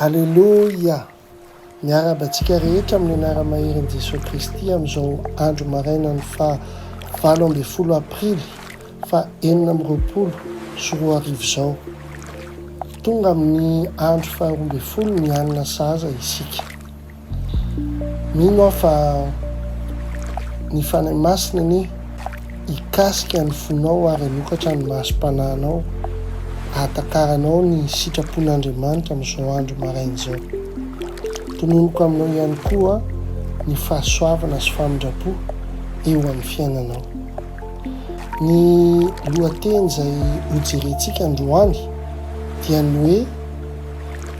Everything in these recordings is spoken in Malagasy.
Aleloia! Miarahaba antsika rehetra amin'ny anara-maherin' Jesoa Kristy amin'izao andro marainan'ny faha valo ambin'ny folo aprily faha enina amby roapolo sy roa arivo izao. Tonga amin'ny andro faharoa ambin'ny folo ny alina sahaza isika. Mino aho fa ny Fanahy Masina anie hikasika ny fonao ary hanokatra ny masom-panahinao hahatakaranao ny sitrapon'Andriamanitra amin'izao andro maraina izao. Tononiko aminao ihany koa ny fahasoavana sy famindram-po eo amin'ny fiainanao. Ny lohateny izay hojerentsika androany dia ny hoe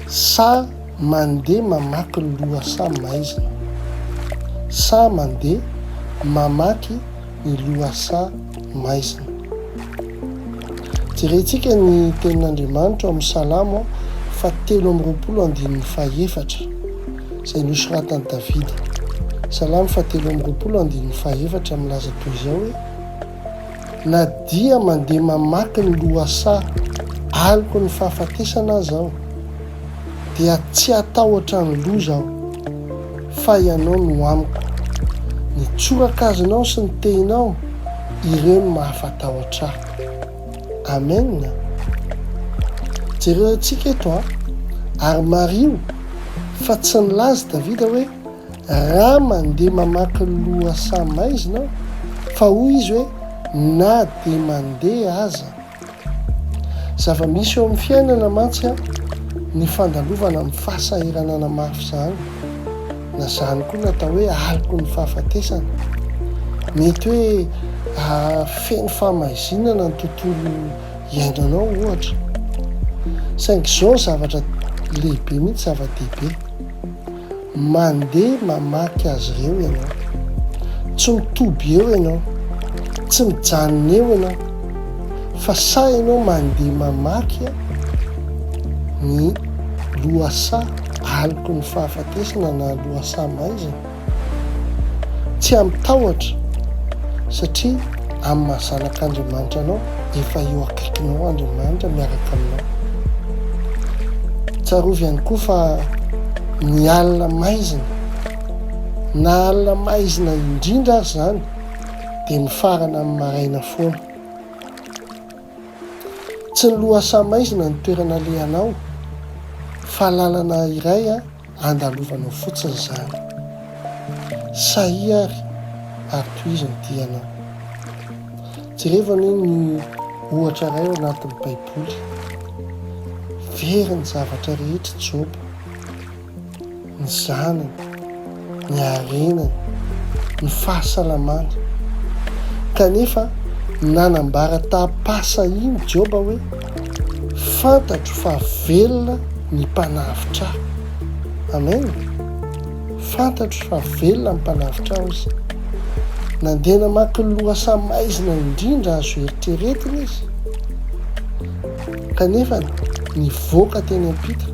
Sa Mandeha mamaky ny lohasaha maizina. Saha mandeha mamaky ny lohasaha maizina. Jerentsika ny Tenin'Andriamanitra ao amin'ny Salamo fahatelo amby roapolo andininy fahefatra, izay nosoratan'i Davida. Salamo fahatelo amby roapolo andininy fahefatra milaza toy izao hoe. Na dia mandeha mamaky ny lohasaha Aloky ny fahafatesana aza aho, dia tsy hatahotra ny loza aho, fa Ianao no amiko. Ny tsorakazonao sy ny tehinao, ireo no mahafatahotra ahy. Amen. Jereo antsika eto an, ary mariho fa tsy nilaza i Davida hoe, Raha mandeha mamaky lohasaha maizina aho, fa hoy izy hoe, Na dia mandeha aza. Zava-misy eo amin'ny fiainana mantsy ny fandalovana amin'ny fahasahiranana mafy izany, na izany koa no atao hoe aloky ny fahafatesana. Mety hoe feno fahamaizinana ny tontolo iainanao, ohatra. Saingy izao zavatra lehibe mihitsy, zava-dehibe. Mandeha mamaky azy ireo ianao. Tsy mitoby eo ianao. Tsy mijanona eo ianao. Fa sa ianao mandeha mamaky ny lohasaha aloky ny fahafatesana na lohasaha maizina? Tsy amin'ny tahotra, satria amin'ny maha zanak'Andriamanitra anao. efa eo akaikinao Andriamanitra miaraka aminao. Tsarovy ihany koa fa ny alina maizina, na alina maizina indrindra aza izany, dia mifarana amin'ny maraina foana. Tsy ny lohasaha maizina no toerana alehanao, fa lalana iray a. Andalovanao fotsiny izany. Sahia ary, ary tohizo ny dianao. Jerevo anie ny ohatra iray ao anatin'ny Baiboly. Very ny zavatra rehetra i Joba, ny zanany, ny harenany, ny fahasalamany. Kanefa nanambara taham-pahasahiana Joba hoe, Fantatro fa velona ny Mpanavotra ahy. Amen! Fantatro fa velona ny Mpanavotra ahy, hoy izy. Nandeha namaky lohasaha maizina indrindra azo eritreretina izy, kanefa nivoaka teny am-pita,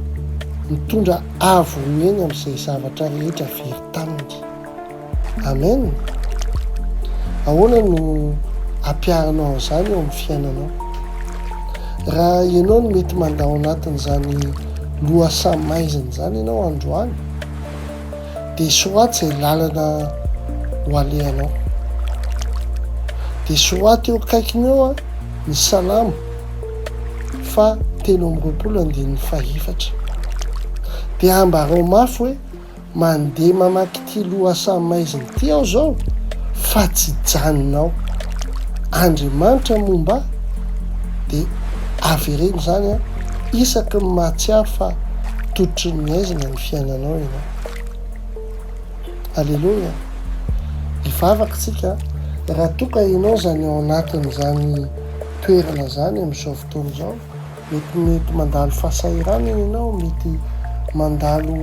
nitondra Ahavoneny amin'izay zavatra rehetra very taminy. Amen! Ahoana no ampiharinao an'izany eo amin'ny fiainanao? Raha ianao no mety mandà ao anatin'izany lohasaha maizina izany ianao androany, dia soraty izay lalana ho alehanao. Dia soraty eo akaikiny eo ny Salamo faha telo amby roapolo andininy fahefatra. Dia ambarao mafy hoe mandeha mamaky ity lohasaha maizina ity aho izao fa tsy hijanona ao. Andriamanitra moa mba dia avereno izany an! isaky ny mahatsiaro fa tototry ny aizina ny fiainanao ianao. Aleloia! Hivavaka isika raha toa ka ianao izany ao anatin'izany toerana izany amin'izao fotoana izao, mety mety mandalo fahasahiranana ianao, mety mandalo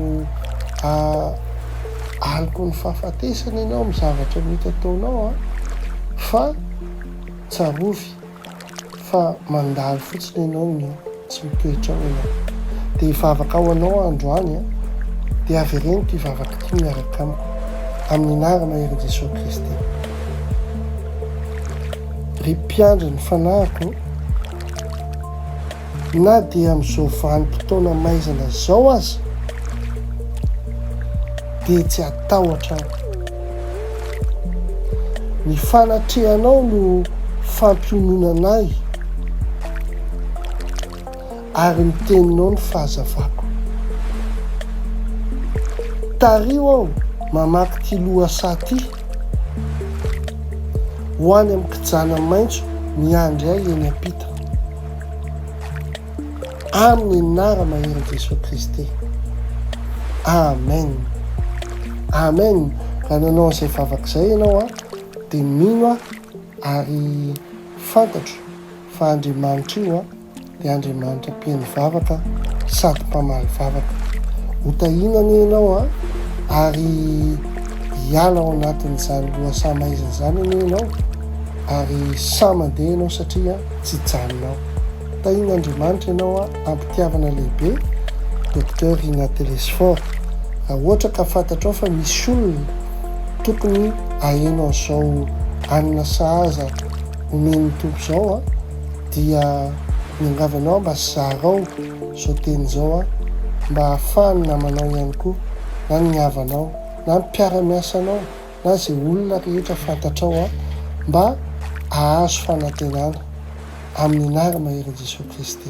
aloky ny fahafatesana ianao amin'ny zavatra mety ataonao a, fa tsarovy fa mandalo fotsiny ianao ny eo. Tsy mitoetra ao ianao. Dia hivavaka ho anao aho androany an! Dia avereno ity vavaka ity miaraka amiko, amin'ny anaram-maherin'i Jesoa Kristy. Ry Mpiandry ny fanahiko ô! Na dia amin'izao vanim-potoana maizina izao aza, dia tsy hatahotra aho. Ny fanatrehanao no fampiononana ahy, ary ny teninao ny fahazavako. Tariho aho mamaky ity lohasaha ity, Ho any amin'ny kijana maitso miandry ahy eny am-pita. Amin ny anara maherin Jesoa Kristy. Amen Amen Raha nanao an'izay vavaka izay ianao a dia mino aho ary fantatro fa Andriamanitra io a dia Andriamanitra mpihaino vavaka sady mpamaly vavaka. Ho tahiana anie ianao a ary hiala ao anatin'izany lohasaha maizina izany anie ianao ary sahy mandeha ianao satria tsy hijanona ao. Tahin' Andriamanitra ianao a ampitiavana lehibe Docteur Rina Telesphore raha ohatra ka fantatrao fa misy olona tokony aheno an'izao anona sahaza omen'ny Tompo izao a dia miangavy anao mba zarao izao teny izao a mba ahafahan'ny namanao ihany koa na ny havanao na ny mpiara-miasanao na izay olona rehetra fantatrao aho mba hahazo fanantenana, amin'ny anara maherin' i Jesoa Kristy.